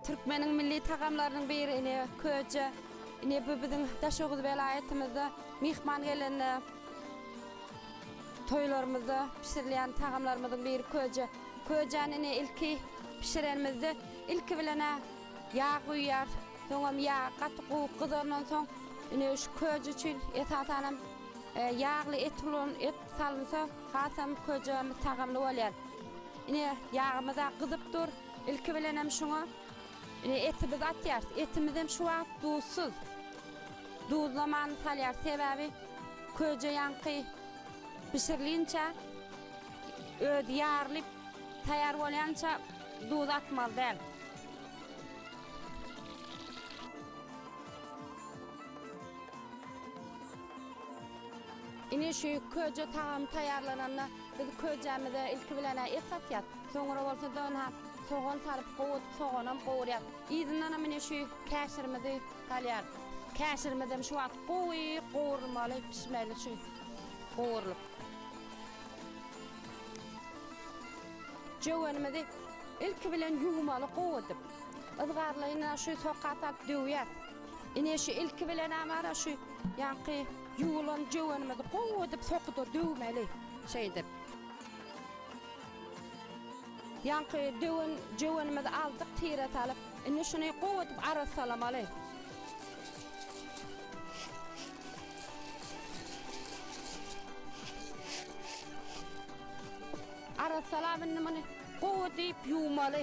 Türkmeniň milli tagamlarynyň biri ine köje. Ine bu biziň Daşoguz welaýatymyzda myhman gelende toýlarymyzda bişirilýän tagamlarymyzyň biri köje. Köjäni ine ilki bişirenimizde ilki bilen ýag guýýarys. Soňam ýag gaty gowuk gyzandan soň ine şu köje üçin esasanam ýagly et ulan et salynsa Hasam köjemiz tagamly bolýar. Ine, ýagymyz-a gyzyp dur. Ilki bilenem şuňa ine etimizi atýarys. Etimizem şu wagt duzsuz. Duzlamany salýarys, sebäbi köje ýaňky bişirilinçä özi ýarylyp taýýar bolýança duz atmaly däl. Ine şu köje tagamy taýýarlananda biz köjämize ilki bilen-ä et satýas. Soňra bolsa döwna sogan salyp gowy soganam gowurýas. Yzyndanam ine şu käşirimizi salýas. Käşirimizem şu wagt gowy gowurylmaly, pişmeli şu gowurylyp. Jöwenimizi ilki bilen ýuwmaly gowy edip. Yzgarlaýyn-a şu soka salyp döwýäs. Ine şu ilki bilenem wara şu ýanky ýuwulan jöwenimizi gowy edip sokuda döwmeli şeýdip. Ýanky döwen jöwenimizi aldyk tire salyp, indi şuny gowy edip arassalamaly. Arassalap indi muny gowy diýip ýuwmaly.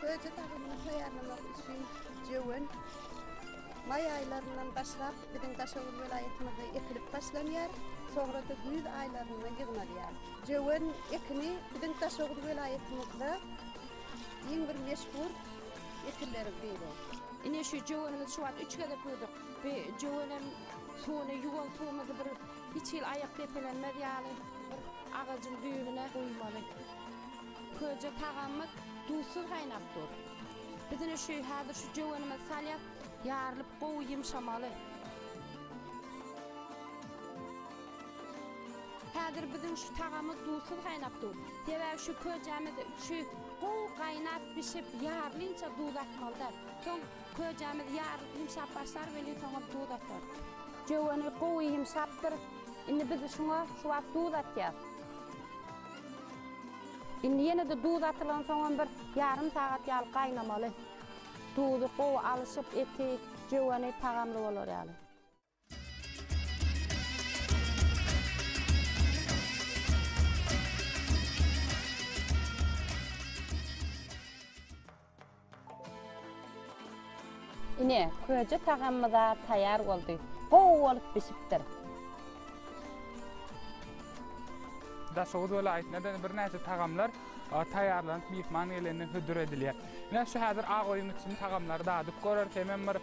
Köýje tagamyny taýýarlamak üçin jöwen maý aýlaryndan başlap biziň Daşoguz welaýatymyzda ekilip başlanýar, soňra-da güýz aýlarynda ýygnalýar. Jöwen ekini biziň Daşoguz welaýatymyzda iň bir meşhur ekinleriň biri. Ine şu jöwenimizi şu wagt üç gezek ýuwduk. Bu jöwenem suwuny ýuwan suwumyzy bir hiç hili aýak depelenmez ýaly bir agajyň düýbüne guýmaly. Köje tagamymyz duzsuz gaýnap dur. Biz indi şu häzir şu jöwenimizi salýas, ýarylyp gowy ýymşamaly. Häzir biziň şu tagamymyz duzsuz gaýnap dur. Sebäbi şu köjämiz şu gowy gaýnap bişip ýarylyňça duz atmalyda. Soň köjämiz ýarylyp ýymşap başlar welin soňam duz atarys. Jöweni gowy ýymşapdyr. Indi biz şuňa şu wagt duz atýas. Indi ýene-de duz atylansoňam bir ýarym sagat ýaly gaýnamaly. Duzy gowy alyşyp, eti, jöweni tagamly bolar ýaly. Ine, köje tagamymyz-a taýýar boldy. Gowy bolup bişipdir. Daşoguz welaýatynda-da birnäçe tagamlar taýýarlanyp, myhman gelende hödür edilýär. Ine, şu häzir ak oýuň içinde tagamlary dadyp göreris, hemem bir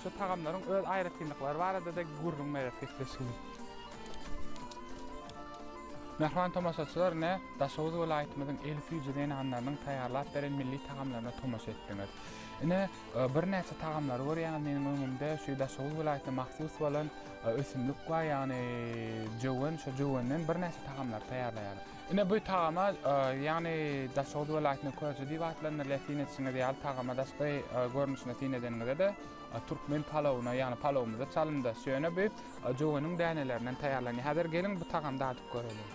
şu tagamlaryň öz aýratynlyklary barada-da gürrüň bereris, gepleşigiz. Mähriban tomaşaçylar, ine, Daşoguz welaýatymyzyň el süýji zenanlarynyň taýýarlap beren milli tagamlaryna tomaşa etdiňiz. Ine, birnäçe tagamlary görýäňiz meniň öňümde. Şu Daşoguz welaýatyna mahsus bolan ösümlik bar, ýagny jöwen. Şu jövenden birnäçe tagamlary taýýarlaýarys. Ine, bu tagama, ýagny Daşoguz welaýatyna köje diýip atlandyrylýar. Syn edişiňiz ýaly, tagama daşky görnüşine syn edeniňizde-de, türkmen palawyna, ýagny palawymyza çalymdaş. Ýöne bu jöveniň dänelerinden taýýarlanýar. Häzir geliň, bu tagamy dadyp göreliň.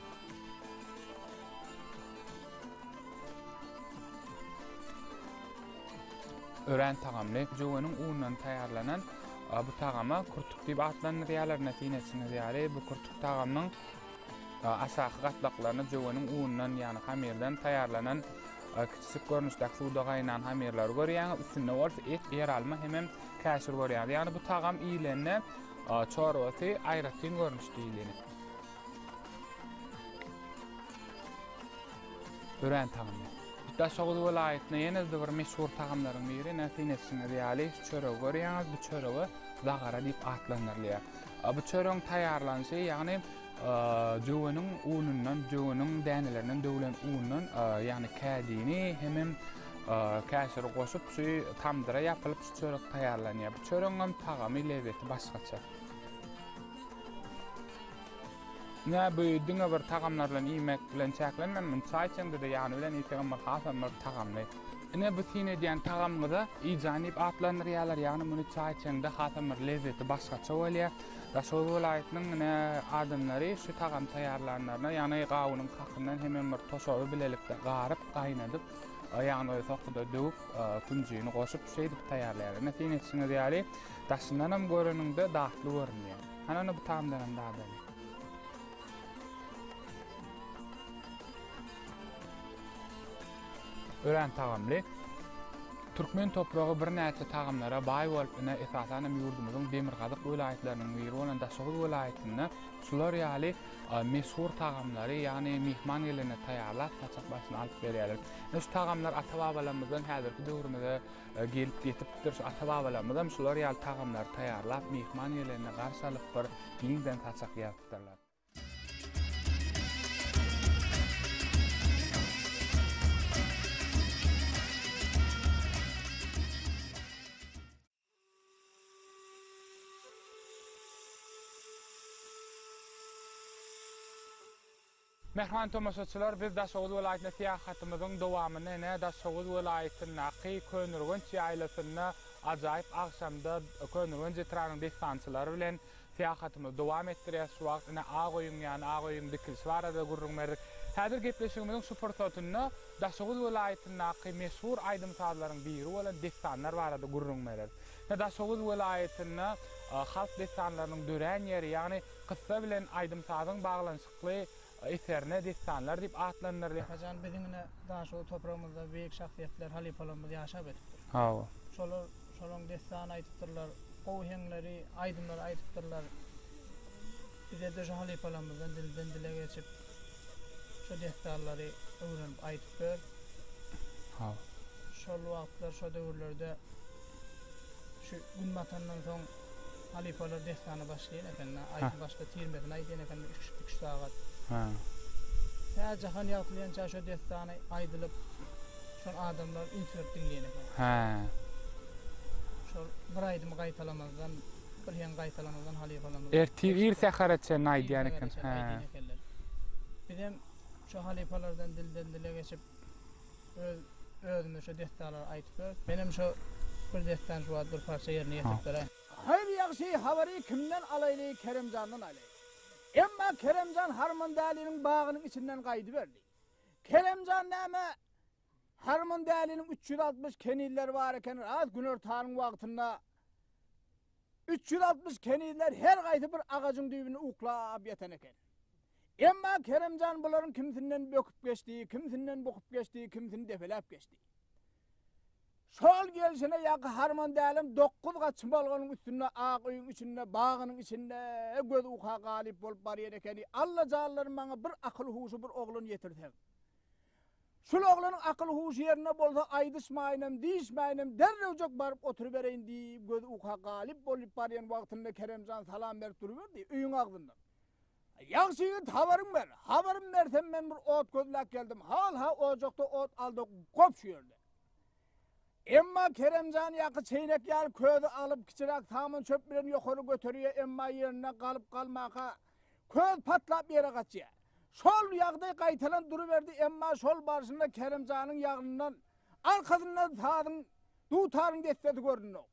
Örän tagamly jöweniň unundan taýýarlanan bu tagama kurtuk diýip atlandyrýarlar. Näsini etseňiz ýaly, bu kurtuk tagamynyň aşaky gatlaklaryny jöweniň unundan, ýagny hamyrdan taýýarlanan kiçijik görnüşdäki suwda gaýnan hamyrlary görýäňiz, üstünde bolsa et, ýeralma hemem käşir görýäňiz. Ýagny bu tagam iýilende çorbasy aýratyn görnüşde iýileni. Örän tagamly. Daşoguz welaýatyna ýene-de bir meşhur tagamlaryň biri, ine syn etişiňiz ýaly, şu çöregi görýäňiz, bu çörege zagara diýip atlandyrylýar. Bu çöregiň taýýarlanyşy, ýagny jöweniň unundan, jöweniň dänelerinden döwlen undan, ýagny kädini hemem käşiri goşup, şu tamdyra ýapylyp, şu çörek taýýarlanýar. Bu çöregiň hem tagamy, lezzeti başgaça. Nä bu diňe bir tagamlar bilen iýmek bilen çäklenmänmin, çaý içeňde-de ýany bilen iýseňem bir hasam bir tagamly. Ine bu syn edýän tagamyňyza iýjan diýip atlandyrýarlar, ýagny muny çaý içeňde hasam bir lezzeti başgaça bolýar. Daşoguz welaýatynyň ine adamlary şu tagamy taýýarlanlaryna ýagny gawunyň kakyndan hemem bir toşaby bilelikde garyp, gaýnadyp, ýagny sokuda döwüp, künjini goşup şeýdip taýýarlaýar. Ine syn etişiňiz ýaly Daşyndanam göreniňde datly görünýä. Hany-ny bu tamdanam dadaly. Örän tagamly. Türkmen topragy birnäçe tagamlara baý bolup, ine, esasan hem ýurdumyzyň demirgazyk welaýatlarynyň biri bolan Daşoguz welaýatynda şular ýaly meşhur tagamlary, ýagny myhman gelende taýýarlap, saçak başyna alyp berýärler. Ine, şu tagamlar ata-babalarymyzdan häzirki döwrümize Gelip ýetipdir. Şu ata-babalarymyzam şular ýaly tagamlary taýýarlap, myhman gelende garşy alyp bir giňden saçak ýazypdyrlar. Mähriban tomaşaçylar, biz Daşoguz welaýatyna syýahatymyzyň dowamyny ene Daşoguz welaýatyndaky Köneürgenç ýaýlasynda ajaýyp agşamda Köneürgenç etrabynyň dessançylary bilen syýahatymyzy dowam etdirýäs. Şu wagt ine Ak öýüň ýany, Ak öýüň dikilişi barada gürrüň berdik. Häzir gepleşigimiziň şu pursatynda Daşoguz welaýatyndaky meşhur aýdym-sazlaryň biri bolan dessanlar barada gürrüň bereris. Ine Daşoguz welaýatynda halk dessanlarynyň dörän ýeri, ýagny kyssa bilen aýdym-sazyň baglanyşykly. atly eserine Dessanlar diýip atlandyrylýar. Hajan biziň ine Daşoguz topragymyzda beýik şahsyýetler, halypalarymyz ýaşap ötüpdir. Hawa. Şolar şolaryň dessan aýdypdyrlar, gowy heňleri, aýdymlary aýdypdyrlar. Bize-de şu halypalarymyzdan dilden-dile geçip, şu dessanlary öwrenip aýdyp ber. Hawa. Şol wagtlar, şo döwürlerde şu gün batandan soň. Halypalar dessana başlaýan ekende, aýdyň başda tirmesini aýdýan ekende üç üç sagat. Hä. Hä jahan ýagtylýança şo dessany aýdylyp, şol adamlar üns berip diňleýän eken. Hä. Şol bir aýdymy gaýtalamazdan, bir heň gaýtalamazdan halypalarymyz. Ertir ir sähere çenli aýdýan eken. Hä. Bizem şo halypalardan dilden dile geçip Öz özüme şo dessanlary aýtyp ber. Menem şo bir dessan şu wagt bir parça ýerine ýetirip beräý. Haýyr ýagşy habary kimden alaýly Keremjandan alaý. Emma Keremjan Harmandäliň bagynyň içinden gaýdyberdi. Keremjan näme Harmandäliň üç ýüz altmyş kenizleri bar eken raz günortanyň wagtynda üç ýüz altmyş kenizler her gaýsy bir agajyň düýbünde uklap ýatan eken. Emma Kerem jan bularyň kimsinden böküp geçdi, kimsinden bukup geçdi, kimsini depeläp geçdi. Şol gelşine ýaky harman dälem dokuz gat çymalganyň üstünde ak öýüň içinde, bagynyň içinde göz uka galyp bolup barýan ekeni. Allajanlarym maňa bir akyl-huşy bir oglan ýetirseň. Şul oglanyň akyl-huşy ýerinde bolsa aýdyşmaýynam, diýişmäýinem derrewjek baryp oturybereýin diýip göz uka galyp bolup barýan wagtynda Kerem jan salam berip duruberdi öýüň agzyndan. Ýagşy ýigit habaryň ber. Habarym bersem men bir ot gözläp geldim. Hal ha ojakda ot aldy gop şu ýerde. Emma Keremjan ýaky çeýnek ýaly közi alyp kiçiräk saman çöp bilen ýokary göterýä emma ýerinde galyp galmaka köz patlap ýere gaçýa. Şol ýagdaý gaýtalan duruberdi emma şol barşynda Keremjanyň ýagnyndan arkasyndan sazyň dutaryň dessesi göründok.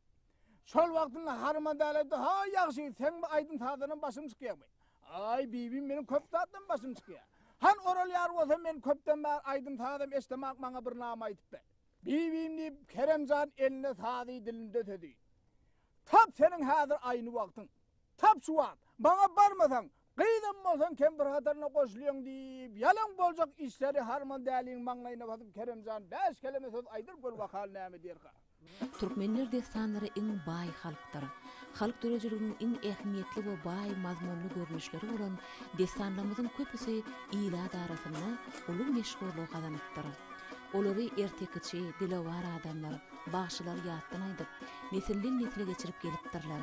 Şol wagtynda Harym Adaly aýtdy, Haý, ýagşy, seň bu aýdym-sazdanam başyň çykýarmy? Aý, bibim, meniň köp zatdan başym çykýar. Han oralýar bolsa, men köpden bäri aýdym-sazam eşdemak, maňa bir name aýdyp ber. Bibim, diýip, Kerem jan elinde sazy, dilinde sözi. Tap seniň häzir aýny wagtyň. Tap şu wagt. Maňa barmasaň, Gyzam bolsaň kempir hataryna goşulýaň diýip, ýalan boljak işleri Harman däliň maňlaýyna basyp Kerem jan bäş keleme söz aýdyr gör wakaly näme diýerka. Türkmenler dessanlary iň baý halkdyr. Halk dörediliginiň iň ähmiýetli we baý mazmunly görnüşleri bolan dessanlamyzyň köpüsi ilat arasynda uly meşhurlygy gazanypdyr. Olary ertekiçi, dilewar adamlar, bagşylar ýatdan aýdyp, nesilden-nesle geçirip gelipdirler.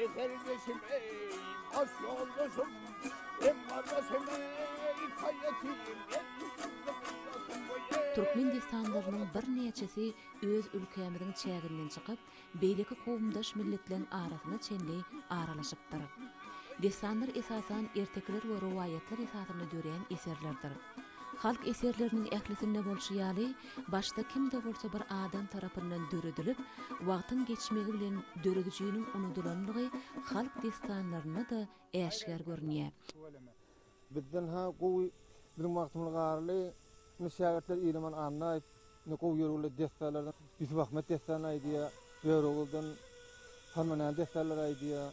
Eserdeşim ey, baş yoldaşym, em kardeşim ey, kayyatiyim, Türkmen dessanlarynyň birnäçesi öz ülkämiziň çäginden çykyp, beýleki kowumdaş milletleriň arasyna çenli aralaşypdyr. Dessanlar esasan ertekiler we rowaýatlar esasynda döreýän eserlerdir. Halk eserleriniň ählisinde bolşy ýaly, başda kim-de bolsa bir adam tarapyndan döredilip, wagtyň geçmegi bilen döredijiniň unudylanlygy halk dessanlarynda-da äşgär görünýär. Bizden-hä gowy biziň wagtymyz garly indi şägirtler Ilaman Annaýew indi gowy ýörgünli dessalardan Ýusup Ahmet dessany aýdýar, Döwregülden Salmanyň dessalary aýdýar.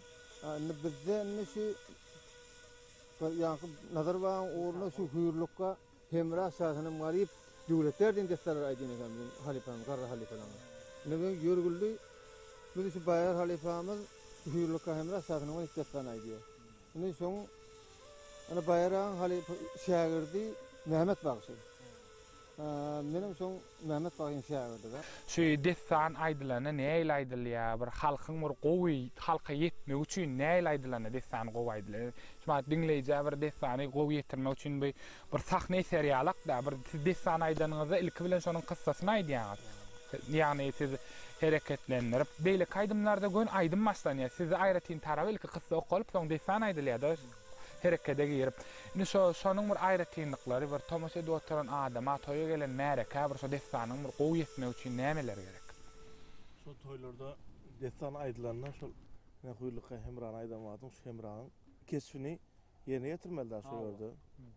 A indi bizde indi şu ýaňky Nazarbaýyň ugrunda şu hüýrlukga Hemra şasanam garyp, döwletler diýen dessalary aýdýan eken biziň halypamyz, garry halypalarymyz. Indi bu ýörgüldi, bizi şu Baýar halypamyz Hüýrlika Hemra şasanam garyp dessany aýdýar. Indi şoň indi Baýar agaň halypa şägirdi Mehmet bagşy. Menem şoň. Mehmet bagyň şägirdiga. Şu dessan aýdylanda nähili aýdylýa bir halkyň bir gowy halka ýetmegi üçin nähili aýdylanda dessan gowy aýdylýa şu mahat diňleýjä bir dessany gowy ýetirmek üçin bu bir sahna eser ýalakda bir siz dessan aýdanyňyzda ilki bilen şonuň kyssasyny aýdýaňyz ýagny siz hereketlendirip beýleki aýdymlarda gön aýdym başlanýa sizde aýratyn tarap ilki kyssa okalyp soň dessan aýdylýada. herekede girip, indi şo, şonuň bir aýratynlyklary, bir tomaşa edip oturan adama, toýa gelen märekä bir şo dessanyň bir gowy ýetmegi üçin nämeler gerek? Şo toýlarda dessan aýdylanda şol Hüýrlika Hemrany aýdan wagtyň şu Hemranyň keşbini ýerine ýetirmeli-dä şo ýerde.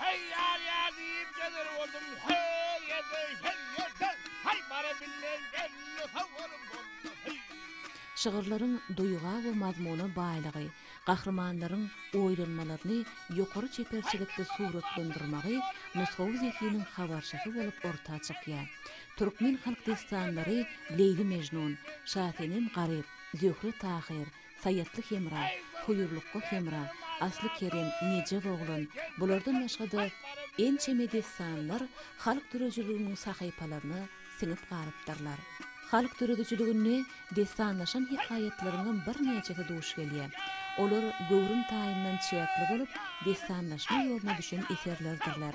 Heý ýar-ýa diýip gezer boldum her ýerde, her ýerde. Haý bara bilmen belli habarym bolmaz, heý. Şygyrlaryň duýga we mazmuna baýlygy, gahrymanlaryň oýlanmalaryny ýokary çeperçilikde suratlandyrmagy nusgawy zehiniň habarçysy bolup orta çykýar. Türkmen halk dessanlary Leýli-Mežnun, Şasenem-Garyp, Zöhre-Tahyr, Saýatly hemra, Huýurlukga hemra, Asly Kerem, Nejep oglan, bulardan başga-da ençeme dessanlar halk döredijiliginiň sahypalaryna siňip galypdyrlar. Halk döredijiliginde dessanlaşan hekaýatlaryňam birnäçesi duş gelýär. Olar göwrüm taýyndan çäkli bolup, dessanlaşma ýoluna düşen eserlerdirler.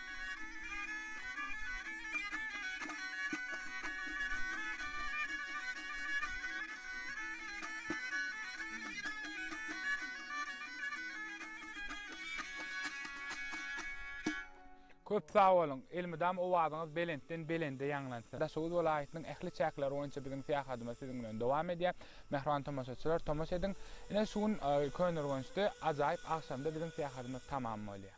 Köp sag boluň! Elmydam owazyňyz belentden belende ýaňlansyn! Daşoguz welaýatynyň ähli çäkleri boýunça biziň syýahatymyz siziň bilen dowam edýär. Mähriban tomaşaçylar, tomaşa ediň! Ine, şu gün Köneürgençde ajaýyp agşamda biziň syýahatymyz tamam bolýar.